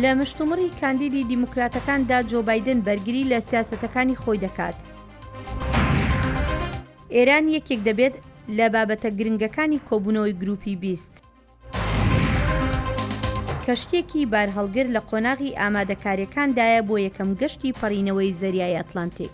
لە مشتومڕی کاندیدی دیموکراتەکاندا جۆ بایدن بەرگری لە سیاسەتەکانی خۆی دەکات. ئێران یەکێک دەبێت لە بابەتە گرنگەکانی کۆبوونەوەی گروپی بیست. کەشتێکی بارهەڵگر لە قۆناغی ئامادەکاریەکاندایە بۆ یەکەم گەشتی پەڕینەوەی زەریای ئەتلانتیک.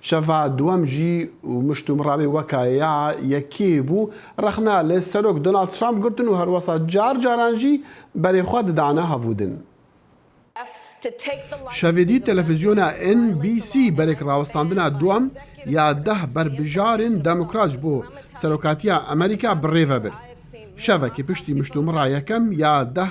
شەفا دوەم ژی و مشتومڕاوی وەکا یا یە کی بو ڕەخنە لە سەرۆک دۆناڵد ترامپ گرتن و هەروەسا جار جاران ژی بەرەی خوە ددانە هەڤودن. شەڤیدی تەلەفزیۆنە ئێن بی سی بەرێک ڕاوەستاندنە دوەم یا دەه بەربژارن دەموکراج بۆ سەرۆکاتیە ئەمەریکا بڕێڤە بر شەڤە کی پشتی مشتومڕا یەکەم یا دەه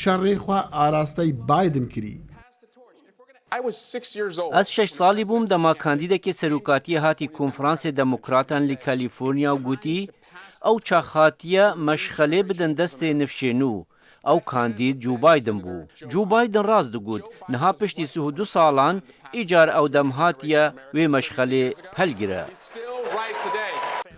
شەڕی خوا ئاراستەی بایدن کری. ئەز شەش ساڵی بووم دەما کاندیدەکێ سەروکاتیە هاتی کونفرانسێ دەموکراتان لی کالیفورنیا و گوتی ئەو چاخاتیە مەشخەلێ بدەن دەستێ نفشێنوو ئەو کاندید جوو بایدن بوو جوو بایدن راس دگوت نها پشتی سه و دو ساڵان ئیجار ئەودەم هاتیە وێ مەشخەلێ پەل گرە.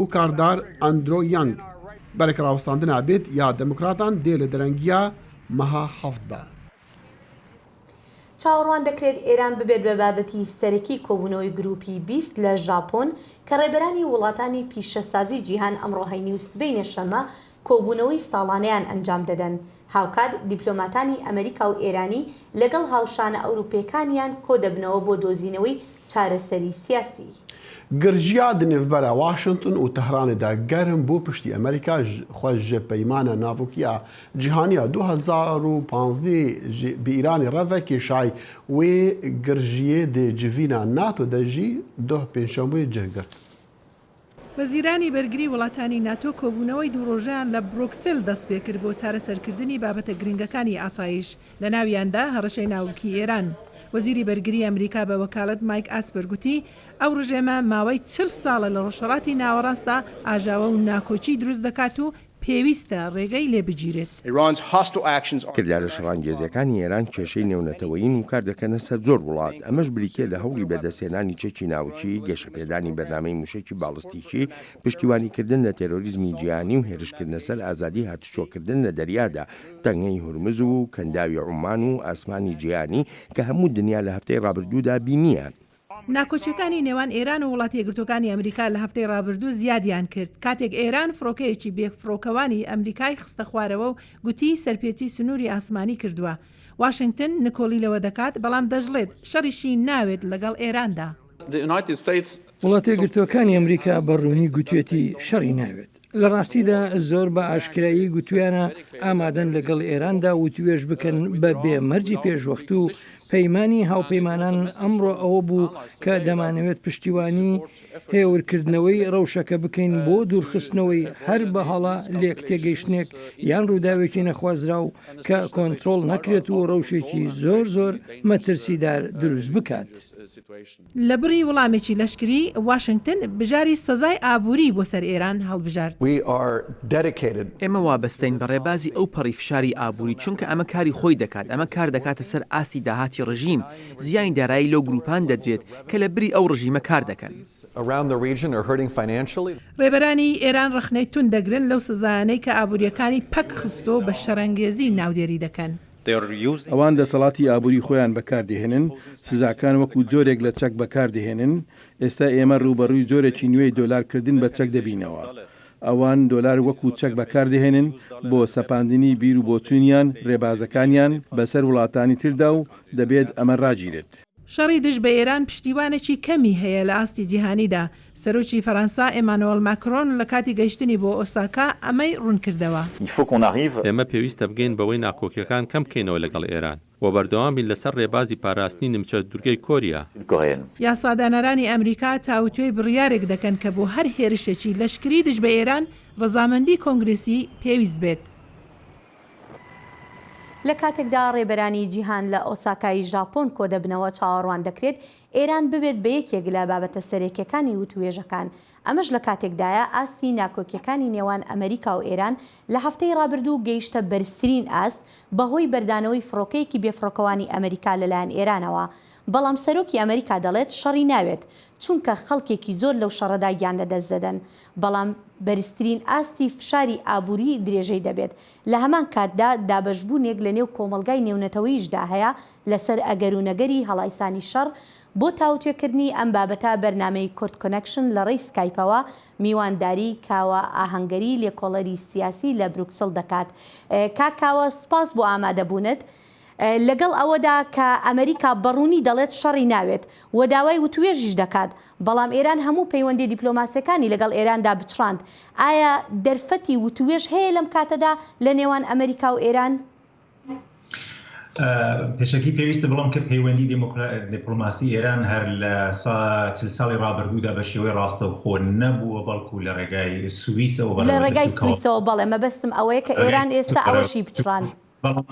و کاردار ئەندرۆ یەنگ بەرەک ڕاوستاندن ئابێت یا دەموکراتان دێ لە دەرەنگیا مەها هەفت بە. چاوەڕوان دەکرێت ئێران ببێت بە بابەتی سەرەکی کۆبوونەوەی گرووپی بیست لە ژاپۆن کە ڕێبەرانی وڵاتانی پیشەسازی جیهان ئەمڕۆ هەینی و سبەینێ شەممە کۆبوونەوەی ساڵانەیان ئەنجام دەدەن، هاوکات دیپلۆماتانی ئەمریکا و ئێرانی لەگەڵ هاوشانە ئەوروپییەکانیان کۆدەبنەوە بۆ دۆزینەوەی چارەسەری سیاسی. گرجیا دنڤبەرە واشنتن و تەهرانێ دا گەرم بۆ پشتی ئەمریکا خوە ژە پەیمانە ناڤکیە جیهانیە دۊ هەزار و پانزدە ژ ب ئیرانێ ڕە ڤە کێشای وێ گرژیێ دێ جڤینا ناتۆ دە ژی دۊ پێنجشەمبوێ جێ گرد. وەزیرانی بەرگری وڵاتانی ناتۆ کۆبوونەوەی دوو ڕۆژەیان لە برۆکسل دەستپێکرد بۆ چارەسەرکردنی بابەتە گرنگەکانی ئاسایش، لەناویاندا هەڕەشەی ناوکی ئێران. وەزیری بەرگری ئەمریکا بە وەکالەت مایک ئاسپەر گوتی، ئەو ڕژێمە ماوەی چل ساڵە لە ڕۆژهەڵاتی ناوەڕاستدا ئاژاوە و ناکۆکی دروست دەکات و پێویستە ڕێگای لێ بگیرێت. کردارە شەڕانگێزەکانی ئێران کێشەی نێونەتەوەیین و کار دەکەنە سەر زۆر وڵات، ئەمەش بریتییە لە هەوڵی بەدەستهێنانی چەکی ناوکی، گەشەپێدانی بەرنامەی مووشەکی باڵستیکی، پشتیوانیکردن لە تێرۆریزمی جیهانی و هێرشکردنە سەر ئازادی هاتوچۆکردن لە دەریادا، تەنگەی هورمز و کەنداوی عومان و ئاسمانی جیهانی کە هەموو دنیا لە هەفتەی ڕابردوودا بینییان. ناکۆکییەکانی نێوان ئێران و وڵاتە یەکگرتووەکانی ئەمریکا لە هەفتەی ڕابردوو زیادیان کرد، کاتێک ئێران فڕۆکەیەکی بێفڕۆکەوانی ئەمریکای خستە خوارەوە و گوتی سەرپێچی سنووری ئاسمانی کردووە. واشنگتن نکۆڵی لەوە دەکات، بەڵام دەشڵێت شەڕیشی ناوێت لەگەڵ ئێراندا. وڵاتە یەکگرتووەکانی ئەمریکا بە ڕوونی گوتوویەتی شەڕی ناوێت. لە ڕاستیدا زۆر بە ئاشکرایی گوتویانە ئامادەن لەگەڵ ئێراندا وتوێژ بکەن بە بێ مەرجی پێشوەخت و پەیمانی هاوپەیمانان ئەمڕۆ ئەوە بوو کە دەمانەوێت پشتیوانی هێورکردنەوەی ڕەوشەکە بکەین بۆ دوورخستنەوەی هەر بە هەڵە لێک تێگەیشتنێک یان ڕووداوێکی نەخوازراو کە کۆنترۆڵ نەکرێت و ڕەوشێکی زۆر زۆر مەترسیدار دروست بکات. لە بڕی وڵامێکی لەشکری، واشنگتن بژاری سەزای ئابووری بۆ سەر ئێران هەڵبژارد. ئێمە وابەستەین بە ڕێبازی ئەو پەڕی فشاری ئابووری، چونکە ئەمە کاری خۆی دەکات، ئەمە کار دەکاتە سەر ئاستی داهاتی ڕژیم، زیانی دارایی لەو گرووپان دەدرێت کە لە بری ئەو ڕژیمە کار دەکەن. ڕێبەرانی ئێران ڕەخنەی توند دەگرن لەو سزایانەی کە ئابوورییەکانی پەک خستووە و بە شەڕەنگێزی ناودێری دەکەن. ئەوان دەسەڵاتی ئابووری خۆیان بەکاردەهێنن، سزاکان وەکو جۆرێک لە چەک بەکاردەهێنن، ئێستا ئێمە ڕووبەڕووی جۆرێکی نوێی دۆلار کردن بە چەک دەبینەوە. ئەوان دۆلار وەکو چەک بەکاردەهێنن بۆ سەپاندنی بیرو بۆچوونیان، ڕێبازەکانیان، بەسەر وڵاتانی تردا و دەبێت ئەمە ڕاگیرێت. شەڕی دژ بە ئێران پشتیوانێکی کەمی هەیە لە ئاستی جیهانیدا، سەرۆکی فەرەنسا ئێمانۆێڵ ماکرۆن لە کاتی گەیشتنی بۆ ئۆساکا ئەمەی ڕوونکردەوە. ئێمە پێویستە بگەین بەوەی ناکۆکیەکان کەم بکەینەوە لەگەڵ ئێران و بەردەوام بین لەسەر ڕێبازی پاراستنی نیمچە دوورگەی کۆریا. یاسادانەرانی ئەمریکا تاوتوێی بڕیارێک دەکەن کە بۆ هەر هێرشێکی لەشکری دژ بە ئێران ڕەزامەندی کۆنگرێسی پێویست بێت. لە کاتێکدا ڕێبەرانی جیهان لە ئۆساکای ژاپۆن کۆدەبنەوە چاوەڕوان دەکرێت ئێران ببێت بە یەکێک لە بابەتە سەرەکیەکانی وتووێژەکان، ئەمەش لە کاتێکدایە ئاستی ناکۆکیەکانی نێوان ئەمەریکا و ئێران لە هەفتەی ڕابردوو گەیشتە بەرزترین ئاست بەهۆی بەردانەوەی فڕۆکەیەکی بێفڕۆکەوانی ئەمەریکا لەلایەن ئێرانەوە بەڵام سەرۆکی ئەمریکا دەڵێت شەڕی ناوێت، چونکە خەڵکێکی زۆر لەو شەڕەدا گیان لەدەست دەدەن، بەڵام بەرزترین ئاستی فشاری ئابووری درێژەی دەبێت، لە هەمان کاتدا دابەشبوونێک لەنێو کۆمەڵگای نێونەتەوەییشدا هەیە لەسەر ئەگەر و نەگەری هەڵایسانی شەڕ، بۆ تاوتوێکردنی ئەم بابەتە بەرنامەی کورد کۆنەکشن لەڕێی سکایپەوە میوانداری کاوە ئاهەنگەری لێکۆڵەری سیاسی لە بروکسل دەکات کاک کاوە سوپاس بۆ ئامادەبوونت. لەگەڵ ئەوەدا کە ئەمریکا بە ڕوونی دەڵێت شەڕی ناوێت و داوای وتووێژیش دەکات، بەڵام ئێران هەموو پەیوەندیە دیپلۆماسیەکانی لەگەڵ ئێراندا بچڕاند، ئایا دەرفەتی وتووێژ هەیە لەم کاتەدا لە نێوان ئەمریکا و ئێران؟ پێشەکی پێویستە بڵێم کە پەیوەندی دیپلۆماسی ئێران هەر لە چل ساڵی ڕابردوودا بە شێوەی ڕاستەوخۆ نەبووە بەڵکو لە ڕێگای سویسەوە بەڕێوەچووە. لە ڕێگای سویسەوە بەڵێ، مەبەستم ئەوەیە کە ئێران ئێستا ئەوەشی پچڕاند. بەڵام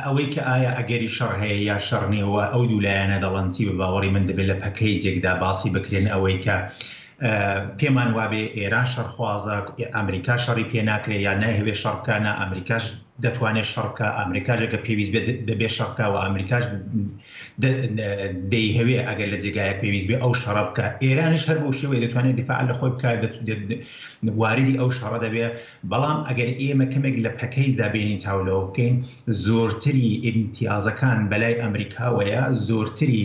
ئەوەی کە ئایا ئەگەری شەڕ هەیە یا شەڕ نییە و ئەو دوو لایەنە دەڵێن چی، بە باوەڕی من دەبێت لە پەکەیجێکدا باسی بکرێن ئەوەی کە پێمان وابێ ئێران شەڕخوازە، ئەمریکا شەڕی پێ ناکرێ یا نایهەوێ شەڕ بکا، نا ئەمریکاش دەتوانێ شەڕ بکا، ئەمریکاش ئەگەر پێویست بێت دەبێ شەڕ بکا و ئەمریکاش دەیهەوێ ئەگەر لە جێگایەک پێویست بێ ئەو شەڕە بکا، ئێرانیش هەر بەو شێوەیە دەتوانێ دیفاع لە خۆی بکا، واریدی ئەو شەڕە دەبێ. بەڵام ئەگەر ئێمە کەمێک لە پەکەیجدا بێنین چاو لەوە بکەین زۆرتری ئیمتیازەکان بەلای ئەمریکاوەیە زۆرتری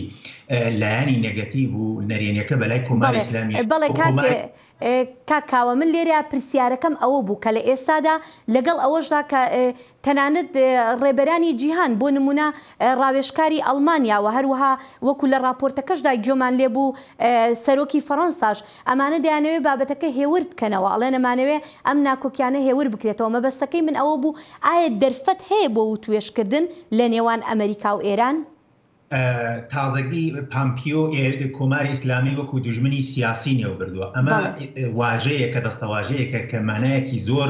لایەنی نەگەتیڤ و نەرێنیەکە بەلای کۆماری ئیسلامی بەڵێ کاک کاوە من لێرە پرسیارەکەم ئەوە بوو کە لە ئێستادا لەگەڵ ئەوەشدا کە تەنانەت ڕێبەرانی جیهان بۆ نموونە ڕاوێژکاری ئەڵمانیا و هەروەها وەکو لە ڕاپۆرتەکەشدا گوێمان لێ بوو سەرۆکی فەڕەنساش ئەمانە دەیانەوێ بابەتەکە هێور بکەنەوە ئەڵێن ئەمانەوێ ئەم ناکۆکیانە هێور بکرێتەوە مەبەستەکەی من ئەوە بوو ئایا دەرفەت هەیە بۆ وتوێژکردن لە نێوان ئەمەریکا و ئێران؟ تازەگی پامپیۆ کۆماری ئیسلامی وەکو دوژمنی سیاسی نێوبردووە ئەمە واژەیە کە دەستەواژەیەکە کە مانایەکی زۆر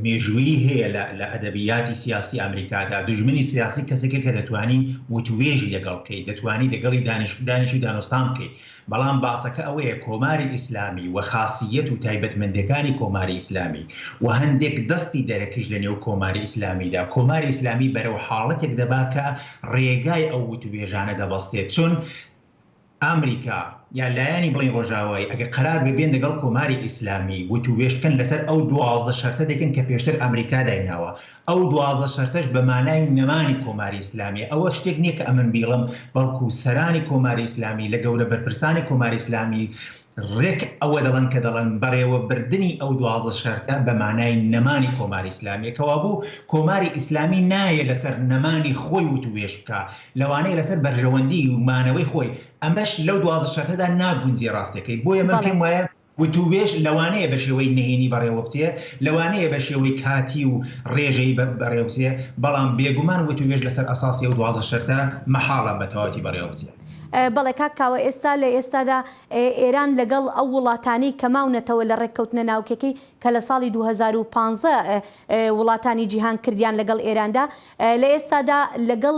مێژوویی هەیە لە ئەدەبیاتی سیاسی ئەمریکادا دوژمنی سیاسی کەسێکە کە دەتوانی وتوێژی لەگەڵ بکەیت دەتوانی لەگەڵی دانیش دانیش و دانوستان بکەیت بەڵام باسەکە ئەوەیە کۆماری ئیسلامی و خاسییەت و تایبەتمەندێکانی کۆماری ئیسلامی و هەندێک دەستی دەرەکیش لە نێو کۆماری ئیسلامیدا کۆماری ئیسلامی بەرەو حاڵەتێک دەبا کە ڕێگای ئەو وتووێژانە دەبەستێت چون ئامریکا یا لایەنی بڵێن ڕۆژاوایی ئەگەر قەرار بێ بێن دەگەڵ کۆماری ئیسلامی وتووێژ بکەن لەسەر ئەو دوازدە شەرتە دەکەن کە پێشتر ئامریکا دایناوە ئەو دوازدە شەرتەش بە مانای نەمانی کۆماری ئیسلامیە، ئەوە شتێک نیە کە ئەمن بیڵێم، بەڵکو سەرانی کۆماری ئیسلامی لە گەورە بەرپرسانی کۆماری ئیسلامی رێک ئەوە دەڵێن کە دەڵێن بەڕێوەبردنی ئەو دوازدە شەرتە بە مانای نەمانی کۆماری ئیسلامیە، کەوابوو کۆماری ئیسلامی نایە لەسەر نەمانی خۆی وتووێژ بکا، لەوانەیە لەسەر بەرژەوەندی و مانەوەی خۆی، ئەمەش لەو دوازدە شەرتەدا ناگونجێ راستەکەی، بۆیە من پێم وایە. وتووێژ لەوانەیە بە شێوەی نهێنی بەڕێوەبچێ، لەوانەیە بە شێوەی کاتی و ڕێژەیی بەڕێوەبچێ، بەڵام بێگومان وتووێژ لەسەر ئەساسی ئەو دوازدە شەرتە مەحاڵە بە تەواوەتی بەڕێوەبچێ. بەڵێ کاک کاوە، ئێستا لە ئێستادا ئێران لەگەڵ ئەو وڵاتانەی کە ماونەتەوە لە ڕێککەوتنە ناوکیەکەی کە لە ساڵی دوو هەزار و پازدە وڵاتانی جیهان کردیان لەگەڵ ئێراندا، لە ئێستادا لەگەڵ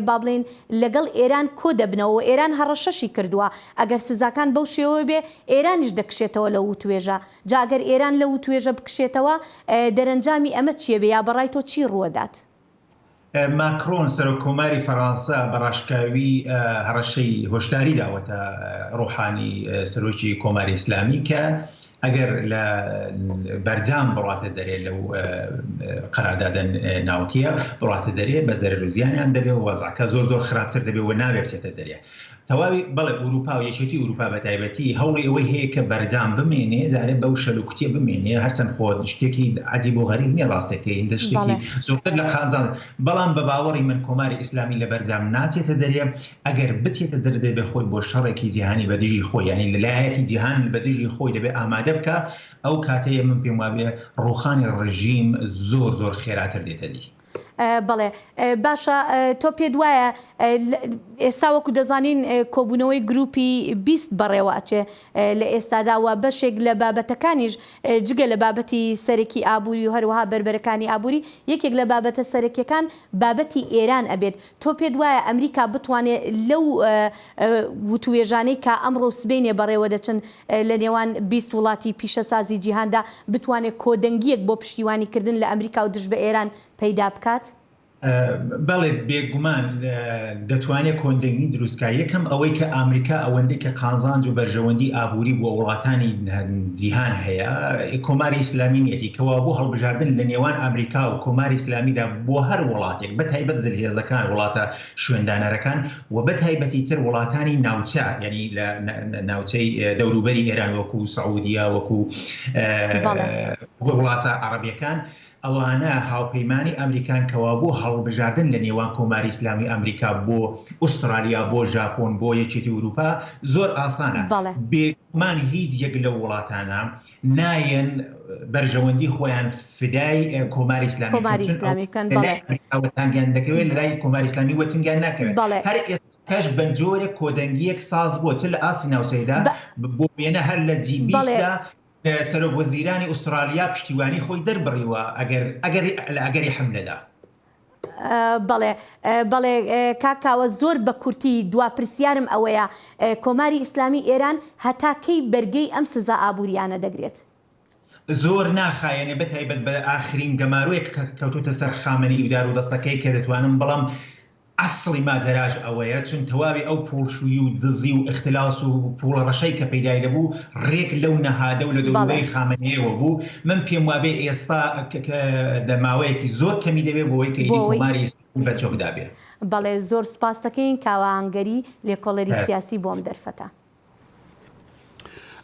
با بڵێین لەگەڵ ئێران کۆ دەبنەوە و ئێران هەڕەشەشی کردووە ئەگەر سزاکان بەو شێوە بێ ئێرانیش دەکشێتەوە لەو وتوێژە. جا ئەگەر ئێران لەو وتوێژە بکشێتەوە دەرەنجامی ئەمە چییە بێ یا بە ڕای تۆ چی ڕووە دات؟ ماکرۆن، سەرۆک کۆماری فەرانسە بە ڕاشکاوی هەڕەشەی هۆشداری داوەتە ڕۆحانی، سەرۆکی کۆماری ئیسلامی کە ئەگەر لە بەرجام بڕاتە دەرێ لەو قەراردادە ناوکییە بڕاتە دەرێ بە زەرەر و زیانیان دەبێ و وەزعەکە زۆر زۆر خراپتر دەبێ و نابێ بچێتە دەرێ تەواوی بەڵێ ئورووپا و یەکێتی ئورووپا بە تایبەتی هەوڵی ئەوەی هەیە کە بەرجام بمێنێ جارێ بەو شەل و کوتێ بمێنێ هەرچەند خۆ شتێکی عجیب و غەریب نییە ڕاستەکەی هندە شتێکی بەڵێ. زۆرتر لە قازان بەڵام بە باوەڕی من کۆماری ئیسلامی لە بەرجام ناچێتە دەرێ ئەگەر بچێتە دەر دەبێ خۆی بۆ شەڕێکی جیهانی بە دژی خۆی یانی لە لایەکی جیهان بە دژی خۆی دەبێ ئامادە بکا ئەو کاتەیە من پێم وابێ ڕووخانی ڕژیم زۆر زۆر خێراتر دێتە دی. بەڵێ باشە تۆ پێت وایە ئێستا وەکو دەزانین کۆبوونەوەی گروپی بیست بەڕێوە ئەچێ لە ئێستادا و بەشێک لە بابەتەکانیش جگە لە بابەتی سەرەکی ئابووری و هەروەها بەربەرەکانی ئابووری یەکێک لە بابەتە سەرەکیەکان بابەتی ئێران ئەبێت تۆ پێت وایە ئەمریکا بتوانێ لەو وتووێژانەی کە ئەمڕۆ و سبەینێ بەڕێوە دەچن لە نێوان بیست وڵاتی پیشەسازی جیهاندا بتوانێ کۆدەنگییەک بۆ پشتیوانی کردن لە ئەمریکا و دژ بە ئێران پەیدا بکات؟ بەڵێ بێگومان دەتوانێ کۆندەنگی دروست کا. یەکەم ئەوەی کە ئامریکا ئەوەندەی کە قانزانج و بەرژەوەندی ئابووری بۆ وڵاتانی جیهان هەیە کۆماری ئیسلامی نیەتی کەوابوو هەڵبژاردن لە نێوان ئامریکا و کۆماری ئیسلامیدا بۆ هەر وڵاتێک بە تایبەت زلهێزەکان، وڵاتە شوێندانەرەکان و بە تایبەتی تر وڵاتانی ناوچە، یانی لە ناوچەی دەوروبەری ئێران وەکو سعودیە، وەکو وڵاتە عەڕەبیەکان، ئەوانە هاوپەیمانی ئەمریکان کەوا بۆ هەڵبژاردن لە نێوان کۆماری ئیسلامی ئەمریکا بۆ ئوسترالیا، بۆ ژاپۆن، بۆ یەکێتی ئوروپا زۆر ئاسانە. بێگومان هیچ یەک لەو وڵاتانە، نایەن بەرژەوەندی خۆیان فدای کۆماری ئیسلامی بکەن، کۆماری چون ئەو ئیسلامی بکەن، لە بەڵێ. لای ئەمریکا وەتانگیان دەکەوێت لە لای کۆماری ئیسلامی وەتنگیان ناکەوێت بەڵێ. هەر ئێستاش بە جۆرێک کۆدەنگییەک ساز بووە چ لە ئاستی ناوچەیدا بە- ب- بۆ وێنە هەر لە جی بیست بەڵێ. دا اه، سەرۆک وەزیرانی ئوسترالیا پشتیوانی خۆی دەربڕیوە ئەگەر ئەگەری لە ئەگەری حملەدا. بەڵێ بەڵێ کاک کاوە زۆر بە کورتی دوا پرسیارم ئەوەیە کۆماری ئیسلامی ئێران هەتا کەی بەرگەی ئەم سزا ئابوورییانە دەگرێت؟ زۆر ناخایەنێ بە تایبەت بە ئاخرین گەمارۆیەک کە کەوتووتە سەر خامەنەیی و دارودەستەکەی کە دەتوانم بڵێم ئەسڵی ماجەراش ئەوەیە چون تەواوی ئەو پووڵشووی و دزی و ئختلاس و پووڵە ڕەشەی کە پەیدای دەبوو ڕێک لەو نەهادە و لە دەوروبەری خامەنەیەوە بوو من پێم وابێ ئێستا دە ماوەیەکی زۆر کەمی دەوێ بۆوەی کە ئیدی کۆماری ئیسلامی بە چۆک دابێ. بەڵێ زۆر سوپاستەکەین کاوە هەنگەری لێکۆڵەری سیاسی بۆ ئەم دەرفەتە.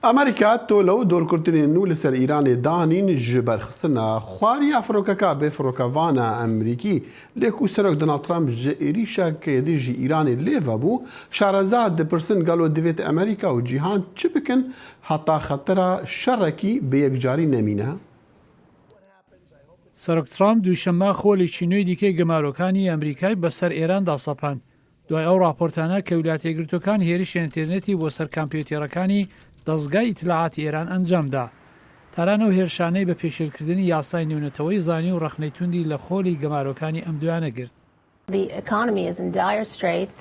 ئەمەریکا تۆلە و دۆرکورتنێ نوو لە سەر ئیرانێ دانین ژ بەر خستنە خواری ئەفرۆکەکا بێ فرۆکەڤانە ئەمریکی لێ کو سەرۆک دناڵد ترەمپ ژ ئیریشە کێ دژی ئیرانێ لێ ڤە بوو شارەزا دپرسن گەلۆ دڤێت ئەمەریکا و جیهان چ بکن هەتا خەتەرە شەڕەکی بە یەکجاری نەمینە. سەرۆک ترامپ دووشەممە خولێکی نوێی دیکەی گەمارۆکانی ئەمریکای بەسەر ئێراندا سەپاند، دوای ئەو ڕاپۆرتانە کە ویلایەتە یەکگرتووەکان هێرشی ئەنتێرنێتی بۆ سەر کامپیۆتێڕەکانی دەزگای ئیتلاعاتی ئێران ئەنجام دا. تاران ئەو هێرشانەی بە پێشێلکردنی یاسای نێونەتەوەی زانی و ڕەخنەی توندی لە خولی گەمارۆکانی ئەم دوایانە گرت.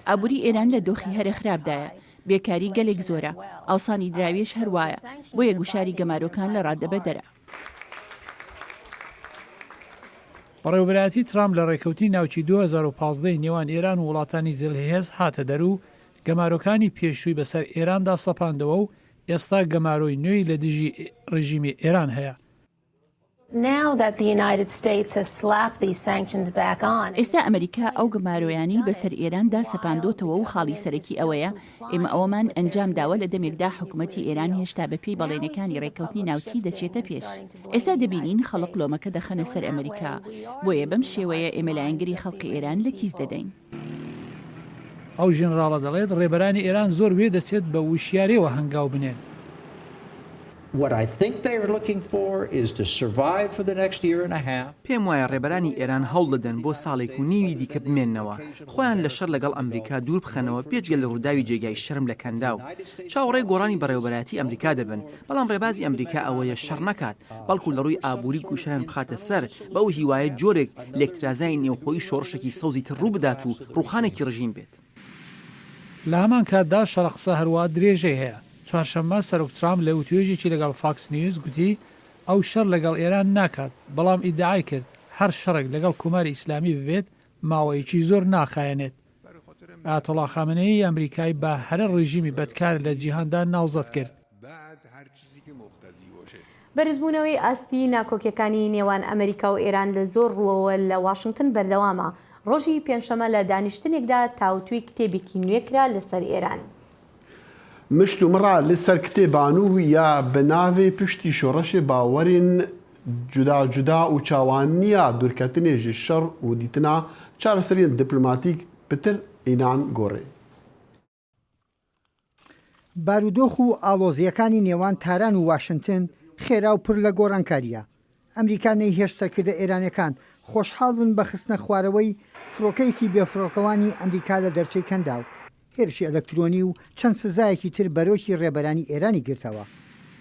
ئابوری ئێران لە دۆخی هەرە خراپدایە، بێکاری گەلێک زۆرە، ئاوسانی دراویش هەر وایە، بۆیە گوشاری گەمارۆکان لە ڕادەبەدەرە. بەڕێوەبەرایەتی ترامپ لە ڕێککەوتنی ناوکیی دوو هەزار و پازدە ی نێوان ئێران و وڵاتانی زلهێز هاتە دەر و گەمارۆکانی پێشووی بەسەر ئێراندا سەپاندەوە و ئێستا گەمارۆی نوێی لە دژی ڕێژیمی ئێران هەیە. ئێستا ئەمەریکا ئەو گەمارۆیانەی بەسەر ئێران دا سەپاندۆتەوە و خاڵی سەرەکی ئەوەیە ئێمە ئەوەمان ئەنجام داوە لە دەمێکدا حکومەتی ئێران هێشتا بە پێی بەڵێنەکانی ڕێککەوتنی ناوکیی دەچێتە پێش ئێستا دەبینین خەڵک لۆمەکە دەخەنە سەر ئەمەریکا بۆیە بەم شێوەیە ئێمە لایەنگری خەڵقی ئێران لە کیس دەدەین. ئەو ژنراڵە دەڵێت، ڕێبەرانی ئێران زۆر وێ دەچێت بە وشیارییەوە هەنگاو بنێن. پێم وایە ڕێبەرانی ئێران هەوڵ دەدەن بۆ ساڵێک و نیوی دیکە بمێننەوە، خۆیان لە شەڕ لەگەڵ ئەمریکا دوور بخەنەوە، بێجگە لە ڕووداوی جێگای شەرم لە کەنداو، چاوەڕێی گۆڕانی بەڕێوەبەرایەتی ئەمریکا دەبن، بەڵام ڕێبازی ئەمریکا ئەوەیە شەڕ نەکات، بەڵکو لە ڕووی ئابووری گوشاریان بخاتە سەر، بەو هیوایە جۆرێک لێکترازانی نێوخۆیی شۆڕشێکی سەوزی تر ڕوو بدات و ڕووخانێکی ڕژیم بێت. لە هەمان کاتدا شەڕە قسە هەروا درێژەی هەیە. چوارشەممە سەرۆک ترامپ لە وتوێژێکی لەگەڵ فاکس نیوز گوتی ئەو شەڕ لەگەڵ ئێران ناکات، بەڵام ئیدعای کرد هەر شەڕێک لەگەڵ کۆماری ئیسلامی ببێت ماوەیەکی زۆر ناخایەنێت. ئایەتوڵا خامنەیی ئەمریکای بە هەرە ڕژیمی بەدکار لە جیهاندا ناوزەد کرد. بەرزبوونەوەی ئاستی ناکۆکیەکانی نێوان ئەمریکا و ئێران لە زۆر ڕووەوە لە واشنگتن بەردەوامە، ڕۆژی پێنجشەمە لە دانیشتنێکدا تاوتوێی کتێبێکی نوێ کرا لەسەر ئێران. مشت و مڕا لە سەر کتێبان و یا بە ناوێ پشتی شۆڕەشێ باوەرێن جودا جودا و چاوان نیا دورکەتنێ ژ شەڕ و دیتنا چارەسەریێن دپلماتیک پتر ئینان گۆڕێ. بارودۆخ و ئاڵۆزییەکانی نێوان تاران و واشنتن خێرا و پر لە گۆڕانکارییە. ئەمریکا نەیهێشت سەرکردە ئێرانیەکان خۆشحاڵ بن بە خستنە خوارەوەی فڕۆکەیەکی بێفڕۆکەوانی ئەمریکا لە دەرچەی کەنداو، هێرشی ئەلەکترۆنی و چەند سزایەکی تر بەرۆکی ڕێبەرانی ئێرانی گرتەوە،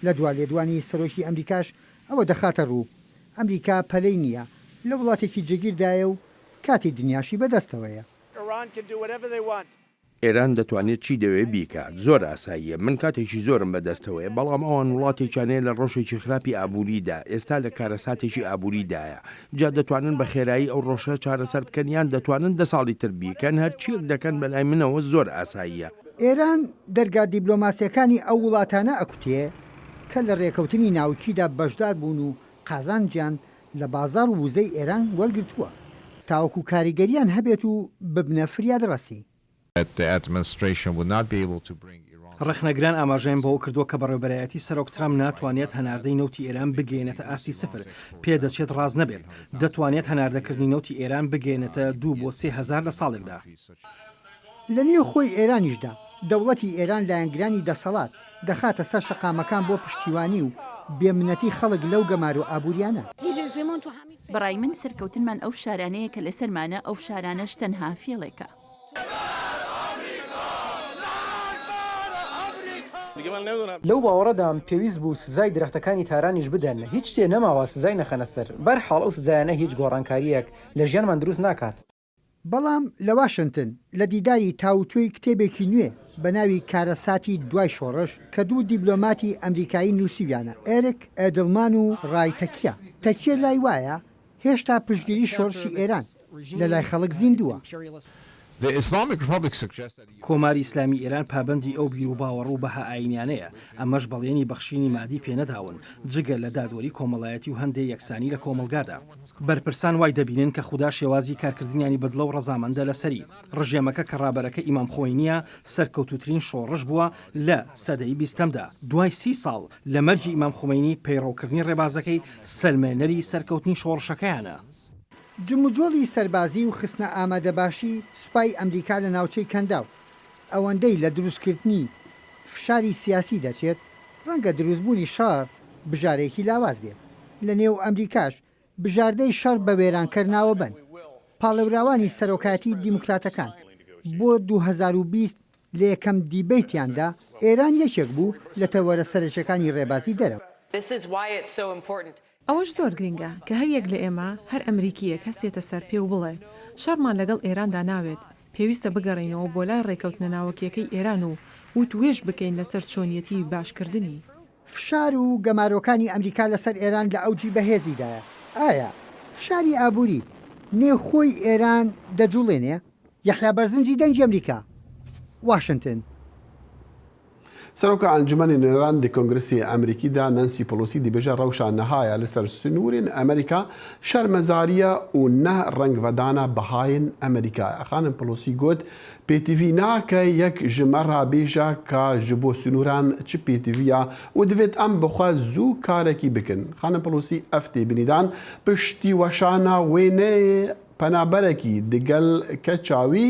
لە دوا لێدوانی سەرۆکی ئەمریکاش ئەوە دەخاتە ڕوو، ئەمریکا پەلەی نییە، لە وڵاتێکی جێگیردایە و کاتی دنیاشی بەدەستەوەیە. ئێران دەتوانێت چی دەوێت بیکات زۆر ئاساییە من کاتێکی زۆرم بەدەستەوەیە بەڵام ئەوان وڵاتێکیانەیە لە ڕۆژێکی خراپی ئابووریدا ئێستا لە کارەساتێکی ئابووریدایە جا دەتوانن بە خێرایی ئەو ڕۆژە چارەسەر بکەن یان دەتوانن دە ساڵی تر بیکەن هەرچییەک دەکەن بەلای منەوە زۆر ئاساییە. ئێران دەرگا دیبلۆماسیەکانی ئەو وڵاتانە ئەکوتێ کە لە ڕێکەوتنی ناوکیدا بەشدار بوون و قازانجیان لە بازاڕ و وزەی ئێران وەرگرتووە تاوەکو کاریگەرییان هەبێت و ببنە فریادڕەسی. ڕەخنەگران ئاماژەیان بەوە کردووە کە بەڕێوەبەرایەتی سەرۆک ترەمپ ناتوانێت هەناردەی نەوتی ئێران بگەیەنێتە ئاستی سفر، پێدەچێت ڕاست نەبێت، دەتوانێت هەناردەکردنی نەوتی ئێران بگەیەنێتە دوو بۆ سێ هەزار لە ساڵێکدا. لە نێوخۆی ئێرانیشدا، دەوڵەتی ئێران لایەنگرانی دەسەڵات، دەخاتە سەر شەقامەکان بۆ پشتیوانی و بێ منەتی خەڵک لەو گەمارۆ ئابووریانە. بە ڕای من سەرکەوتنمان ئەو فشارانەیە کە لە سەرمانە، ئەو فشارانەش تەنها فێڵێکە. لەو باوەڕەدام پێویست بوو سزای درەختەکانی تارانیش بدەن، هیچ شتێ نەماوە سزای نەخەنە سەر. بەرحاڵ ئەو سزایانە هیچ گۆڕانکارییەک لە ژیانمان دروست ناکات. بەڵام لە واشنتن لە دیداری تاووتوێی کتێبێکی نوێ بە ناوی کارەساتی دوای شۆڕش کە دوو دیبلۆماتی ئەمریکایی نووسیویانە، ئێرک ئێدڵمان و ڕای تەکیە. تەکیە لای وایە هێشتا پشتگیری شۆڕشی ئێران لە لای خەڵک زیندووە. کۆماری ئیسلامی ئێران پابەندی ئەو بیر و باوەڕ و بەها ئایینیانەیە، ئەمەش بەڵێنی بەخشینی مادی پێ نەداون، جگە لە دادوەری کۆمەڵایەتی و هەندێ یەکسانی لە کۆمەڵگادا. بەرپرسان وای دەبینن کە خودا شێوازی کارکردنیانی بەدڵە و ڕەزامەندە لەسەری. ڕژێمەکە کە ڕابەرەکەی ئیمام خوەینییە، سەرکەوتووترین شۆڕش بووە لە سەدەی بیستەمدا. دوای سی ساڵ لە مەرگی ئیمام خومەینی، پەیڕەوکردنی ڕێبازەکەی سەلمێنەری سەرکەوتنی شۆڕشەکەیانە. دەکات. جموجۆڵی سەربازی و خستنە ئامادەباشی سوپای ئەمریکا لە ناوچەی کەنداو، ئەوەندەی لە دروستکردنی فشاری سیاسی دەچێت، ڕەنگە دروستبوونی شەڕ بژارەیەکی لاواز بێت لە نێو ئەمریکاش، بژاردەی شەڕ بە وێرانکەر ناوە بەن پاڵێوراوانی سەرۆکایەتی دیموکراتەکان بۆ دوو هەزار و بیست لە یەکەم دیبەیتیاندا، ئێران یەکێک بوو لە تەوەرە سەرەکیەکانی ڕێبازی دەرەوە. ئەوەش زۆر گرینگە کە هەر یەک لە ئێمە، هەر ئەمریکییەک هەستێتە سەر پێ و بڵێ، شەڕمان لەگەڵ ئێراندا ناوێت، پێویستە بگەڕێینەوە بۆ لای ڕێکەوتنە ناوەکییەکەی ئێران و وت وێژ بکەین لەسەر چۆنیەتیی باش کردنی. فشار و گەمارۆکانی ئەمریکا لەسەر ئێران لە ئەوجی بەهێزیدایە، ئایا فشاری ئابووری نێوخۆی ئێران دەجوڵێنێ؟ یەحیا بەرزنجی دەنگی ئەمریکا، واشنتن. سەرۆک ئەنجومەنی نوێنەران دی کۆنگرسی ئەمریکی دا نانسی پلوسی دی بێژە رەوشا نەهایە لە سەر سنوورین ئەمریکا شەرمەزاریە و نە رەنگ ڤەدانە بەهاین ئەمریکایە. خانم پلوسی گوت پێتڤی ناکە یەک ژ مە را بێژە کا ژ بۆ سنووران چ پێتڤیە و دڤێت ئەم بخە زوو کارەکی بکن. خانم پلوسی ئەڤ تێبنیدان پشتی وەشانا وێنەێ پەنابەرەکی دگەل کە چاوی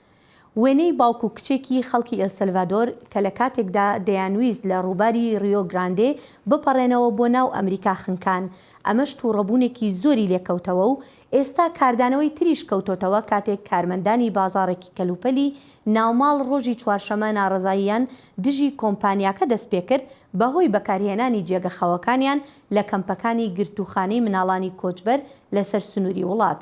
وێنەی باوک و کچێکی خەڵکی ئێلسەلڤادۆر کە لە کاتێکدا دەیانویست لە ڕووباری ڕیۆ گراندێ بپەڕێنەوە بۆ ناو ئەمریکا خنکان، ئەمەش توڕەبوونێکی زۆری لێکەوتەوە و ئێستا کاردانەوەی تریش کەوتۆتەوە کاتێک کارمەندانی بازاڕێکی کەلوپەلی ناوماڵ ڕۆژی چوارشەمە ناڕەزاییان دژی کۆمپانیاکە دەستپێکرد بەهۆی بەکارهێنانی جێگە خەوەکانیان لە کەمپەکانی گرتووخانەی مناڵانی کۆچبەر لەسەر سنووری وڵات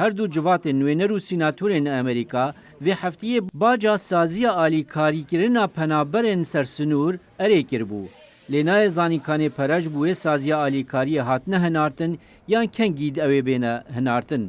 هەردوو جڤاتێ نوێنەر و سیناتورێن ئەمریکا، ڤێ هەفتییە باجا سازییە ئالی کاریکرنا پەنابەرێن سەر سنوور ئەرێ کربوو، لێ نایە زانین کانێ پەرەش بووێ سازییە ئالی کارییە هاتنە هنارتن یان کەنگی د ئەوێ بێنە هنارتن.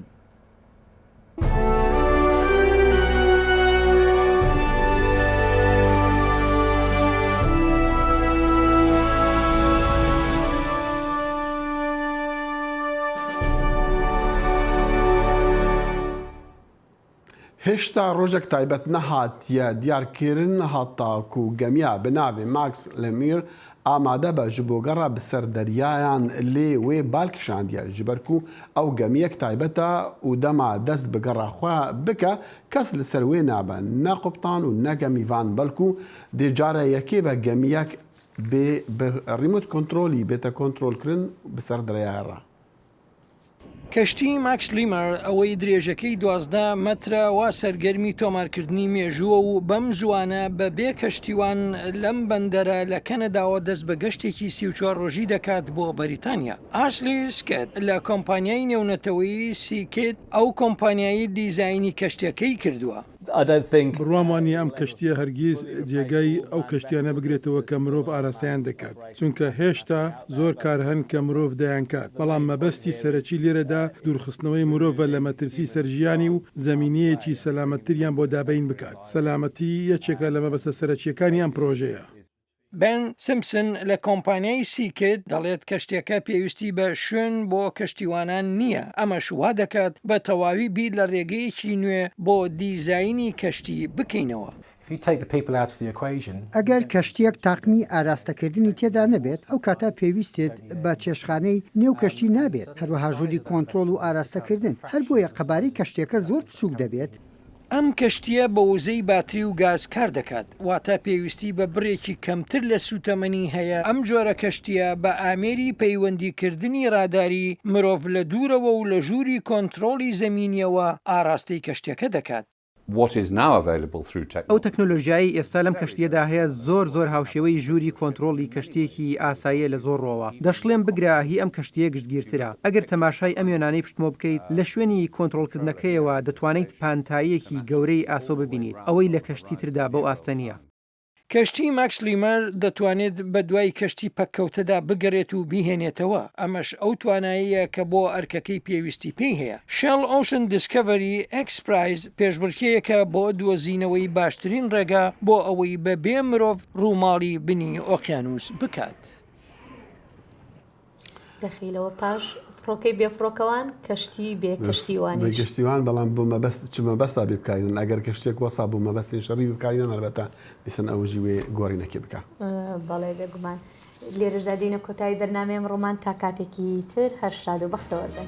هێشتا ڕۆژێک تایبەت نەهاتیە دیار کرن هەتاکو گەمیا بناڤێ ماکس لەمیر ئامادە بە ژ بۆ گەڕا بسەر دەریایان لێ وێ بال کشاندیە ژبەر کو ئەو گەمیەک تایبەتە و دەما دەست بە گەڕا خوە بکە کەس لسەر وێ نابە نە قوبتان و نە گەمیڤان بەلکو دێ جارە یەکێ بە گەمیەک بێ بە ڕیمۆت کۆنترۆلی بێتە کۆنترۆل کرن بسەر دەرەیا ڕا. کەشتی ماکس لیمەر ئەوەی درێژەکەی دوازدە مەترە وا سەرگەرمی تۆمارکردنی مێژووە و بەم زووانە بە بێ کەشتیوان لەم بەندەرە لە کەنەداوە دەست بە گەشتێکی سی و چوار ڕۆژی دەکات بۆ بەریتانیا. ئاسلی سکێت لە کۆمپانیای نێونەتەوەیی سیکیت ئەو کۆمپانیای دیزاینی کەشتیەکەی کردووە. بڕوام وا نییە ئەم کەشتییە هەرگیز جێگای ئەو کەشتییانە بگرێتەوە کە مرۆڤ ئاراستەیان دەکات، چونکە هێشتا زۆر کار هەن کە مرۆڤ دەیانکات، بەڵام مەبەستی سەرەکی لێرەدا دوورخستنەوەی مرۆڤە لە مەترسی سەر ژیانی و زەمینەیەکی سەلامەتتریان بۆ دابەین بکات. سەلامەتی یەکێکە لە مەبەستە سەرەکییەکانی ئەم پرۆژەیە. بێن سیمپسن لە کۆمپانیای سیکت دەڵێت، کەشتیەکە پێویستی بە شوێن بۆ کەشتیوانان نییە، ئەمەش وادەکات بە تەواوی بیر لە رێگەیەکی نوێ بۆ دیزاینی کەشتی بکەینەوە. ئەگەر کەشتیەک تاقمی ئاراستەکردنی تێدا نەبێت، ئەو کاتە پێویستت بە چێشتخانەی نێو کەشتی نابێت، هەروەها ژووری کۆنترۆڵ و ئاراستەکردن، هەر بۆیە قەبارەی کەشتیەکە زۆر بچووک دەبێت، ئەم کەشتییە بە وزەی باتری و گاز کار دەکات، واتە پێویستی بە بڕێکی کەمتر لە سووتەمەنی هەیە، ئەم جۆرە کەشتییە بە ئامێری پەیوەندیکردنی ڕاداری مرۆڤ لە دوورەوە و لە ژووری کۆنترۆڵی زەمینییەوە ئاڕاستەی کەشتییەکە دەکات. ئەو تەکنۆلۆژیایەی ئێستا لەم کەشتییەدا هەیە زۆر زۆر هاوشێوەی ژووری کۆنترۆڵی کەشتییەکی ئاساییە لە زۆر ڕووەوە، دەشڵێم بگرە هی ئەم کەشتییە گشتگیرترە، ئەگەر تەماشای ئەم وێنانەی پشتمۆ بکەیت، لە شوێنی کۆنترۆڵکردنەکەیەوە دەتوانیت پانتاییەکی گەورەی ئاسۆ ببینیت، ئەوەی لە کەشتی تردا بەو ئاستە نییە. کەشتی ماکس لیمەر دەتوانێت بە دوای کەشتی پەککەوتەدا بگەرێت و بیهێنێتەوە، ئەمەش ئەو توانایەیە کە بۆ ئەرکەکەی پێویستی پێی هەیە. شێڵ ئۆشن دیسکەڤەری ئێکس پرایز پێشبڕکێیەکە بۆ دۆزینەوەی باشترین ڕێگا بۆ ئەوەی بەبێ مرۆڤ ڕووماڵی بنی ئۆقیانووس بکات. دەخیلەوە پاش فڕۆکەی بێفڕۆکەوان کەشتی بێ کەشتیوان گەشتیوان بەڵام بۆ مەبەست چ مەبەستا بێ بکارن ئەگەر گەشتێک وەسا بۆ مەبەستی شەڕی بکارینان هەربەتە دیسن ئەوژی وێ گۆڕینەکێ بکە بەڵێ بێگومان لێرەشدا دینە کۆتایی بەرنمەیەم ڕۆمان تا کاتێکی تر هەر شاد و بەختەوەربن.